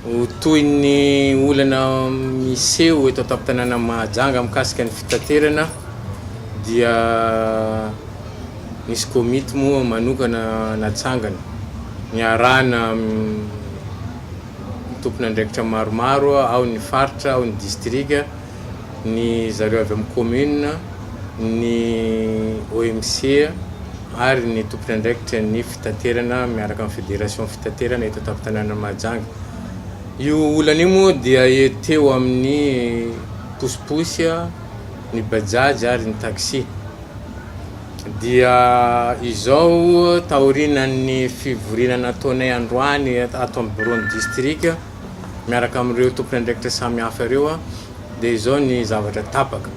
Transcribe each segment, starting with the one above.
Ho toy ny olana miseho eto an-tampon-tanànan'i Mahajanga mikasika ny fitaterana dia nisy komity moa manokana natsangana niarahana amin'ny tompon'andraikitra maromaro ao ny faritra, ao ny distrika. ny zareo avy amin'ny commune, ny OMC ary ny tompon'andraikitra ny fitaterana miaraka amin'ny fédération fitaterana eto an-tampon-tanànan'i Mahajanga. Io olana io moa dia teo amin'ny posiposy, ny bajaj ary ny taxi. Dia izao taorianan'ny fivoriana nataonay androany ato amin'ny bureau-n'ny distrika, miaraka amin'ireo tompon'andraikitra samihafa ireo aho dia izao ny zavatra tapaka.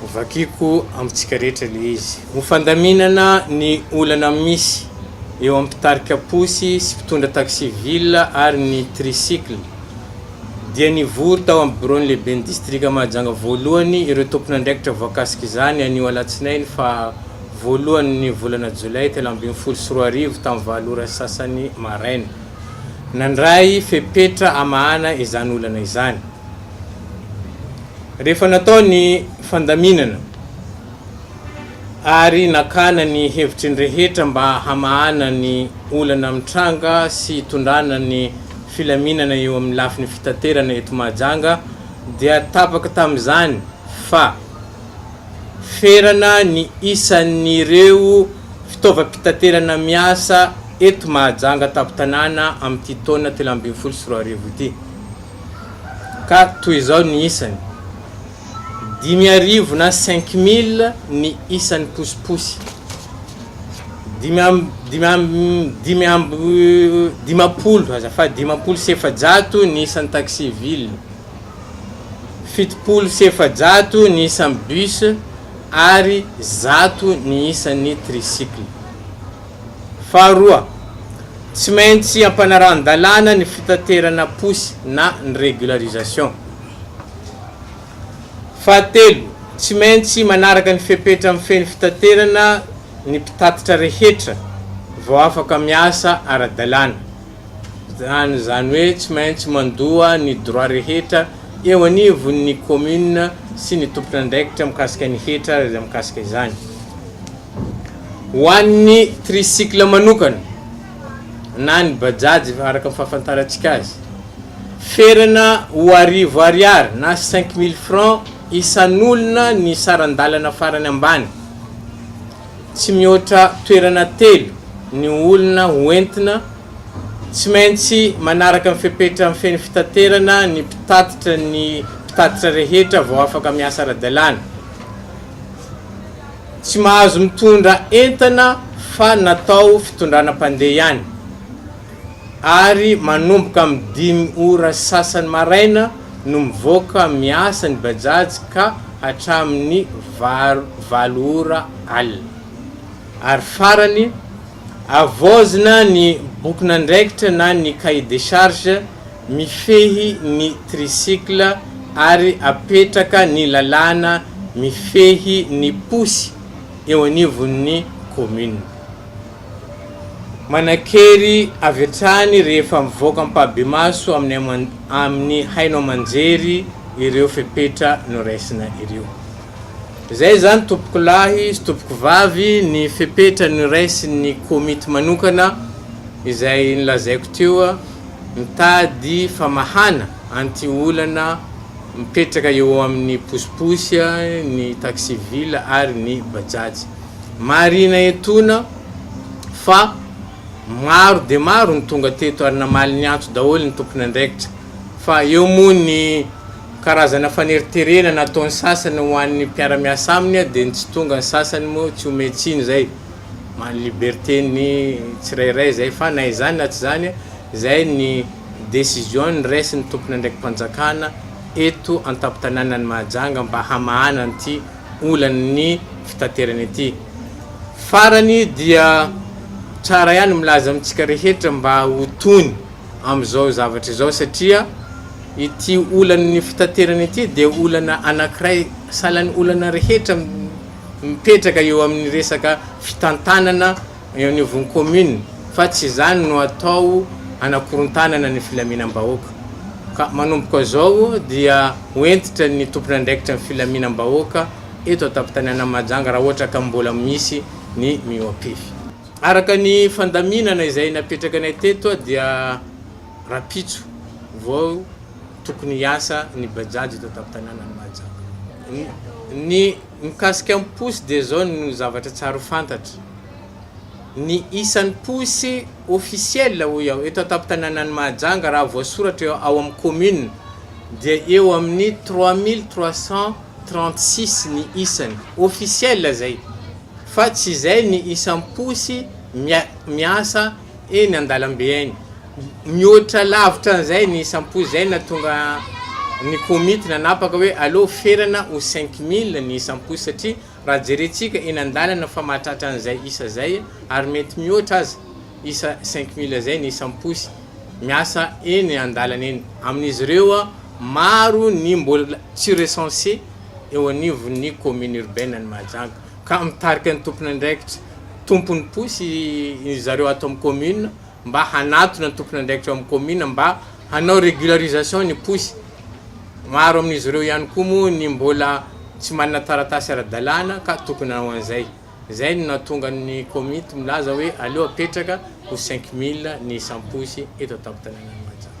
Hovakiako amintsika rehetra ilay izy. Ho fandaminana ny olana misy eo amin'ny mpitarika posy sy mpitondra taxi ville ary ny tricycle dia nivory tao amin'ny biraon'ny lehiben'ny distrika Mahajanga voalohany ireo tompon'andraikitra voakasik'izany anio alatsinainy faha voalohan'ny volana jolay telo ambin'ny folo sy roa arivo tamin'ny valo ora sy sasany maraina. Nandray fepetra hamahana izany olana izany. Rehefa natao ny fandaminana ary nakana ny hevitry ny rehetra mba hamahana ny olana mitranga sy hitondrana ny filaminana eo amin'ny lafiny fitaterana eto Mahajanga dia tapaka tamin'izany fa ferana ny isan'ireo fitaovam-pitaterana miasa eto Mahajanga tampon-tanàna amin'ity taona telo ambin'ny folo sy roa arivo ity ka toy izao ny isany, dimy arivo na cinq mille ny isan'ny posiposy, dimy amby dimampolo, azafady, dimampolo sy efajato ny isan'ny taxi-ville. Fitopolo sy efajato ny isan'ny bus ary zato ny isan'ny tricycle. Faharoa, tsy maintsy ampanarahan-dalàna ny fitaterana posy na ny régularisation. Fahatelo, tsy maintsy manaraka ny fepetra mifehy fitaterana ny mpitatitra rehetra vao afaka miasa ara-dalàna. Zany zany hoe tsy maintsy mandoa ny droit rehetra eo anivon' ny commune sy ny tompon'andraikitra mikasika ny hetra izay mikasika izany. Ho an'ny tricycle manokana na ny bajaj araka ny fahafantarantsika azy, ferana ho arivo ariary na cinq mille francs isan'olona ny saran-dalana farany ambany. Tsy mihoatra toerana telo ny olona ho entina. Tsy maintsy manaraka ny fepetra mifehy ny fitaterana ny mpitatitra ny mpitatitra rehetra vao afaka miasa ara-dalàna. Tsy mahazo mitondra entana fa natao fitondrana mpandeha ihany. ary manomboka amin'ny dimy ora sasany maraina no mivoaka miasa ny Bajaj ka hatramin'ny valo ora alina. Ary farany, avaozina ny bokin'andraikitra na ny cahier des charges mifehy ny tricycle ary apetraka ny lalàna mifehy ny posy eo anivon'ny commune. Manan-kery avy hatrany rehefa mivoaka ampahibemaso amin'ny haino aman-jery ireo fepetra noraisina ireo. Izay izany tompokolahy sy tompokovavy ny fepetra noraisin'ny komity manokana izay nolazaiko teo mitady famahana an'ity olana mipetraka eo amin'ny posiposy ny taxi-ville ary ny bajaj. Marihina etoana fa maro dia maro ny tonga teto ary namaly ny antso daholo ny tompon'andraikitra fa eo moa ny karazana faneriterena nataon'ny sasany ho an'ny mpiara-miasa aminy dia ny tsy tonga ny sasany moa tsy omeny tsiny izay maha liberté ny tsirairay izay fa na izany na tsy izany izay ny décision noraisin'ny tompon'andraiki-panjakana eto an-tampon-tanànan'i Mahajanga mba hamahana an'ity olan'ny fitaterana ity. Farany dia tsara ihany milaza amintsika rehetra mba ho tony amin'izao zavatra izao satria ity olan'ny fitaterana ity dia olana anankiray sahalan'ny olana rehetra mipetraka eo amin'ny resaka fitantanana Eo anivon'ny kaominina, fa tsy izany no atao hanakorontanana ny filaminam-bahoaka. Ka manomboka izao dia ho hentitra ny tompon'andraikitra ny filaminam-bahoaka eto an-tampon-tanànan'i Mahajanga raha ohatra ka mbola misy ny mihoa-pefy. Araka ny fandaminana izay napetraka anay teto dia rahampitso vao tokony hiasa ny Bajaj eto an-tampon-tanànan'i Mahajanga. Ny. Mikasika ny posy dia izao no zavatra tsara ho fantatra, ny isan'ny posy ofisiela hoy aho eto an-tampon-tanànan'i Mahajanga raha voasoratra eo ao amin'ny kaominina dia eo amin'ny trois mille trois cent trente six ny isany, ofisiela izay fa tsy izay ny isan'ny posy miasa. eny an-dalambe eny. Mihoatra lavitra an'izay ny isam-po izay nahatonga ny komity nanapaka hoe aleo ferana ho cinq mille ny isam-po satria raha jerentsika eny an-dalana fa mahatratra an'izay isa izay ary mety mihoatra aza isa cinq mille izay ny isam-posy miasa eny an-dalana eny. Amin'izy ireo maro ny mbola tsy recenser eo anivon'ny commune urbaine an'i Mahajanga. ka mitarika ny tompon'andraikitra tompon'ny posy ry zareo ato amin'ny commune mba hanatona ny tompon'andraikitra ao amin'ny commune mba hanao régularisation ny posy. Maro amin'izy ireo ihany koa moa ny mbola tsy manana taratasy ara-dalàna ka tokony hanao an'izay. Izay no nahatonga ny komity milaza hoe aleo apetraka ho cinq mille ny isam-posy eto an-tampon-tanànan'i Mahajanga.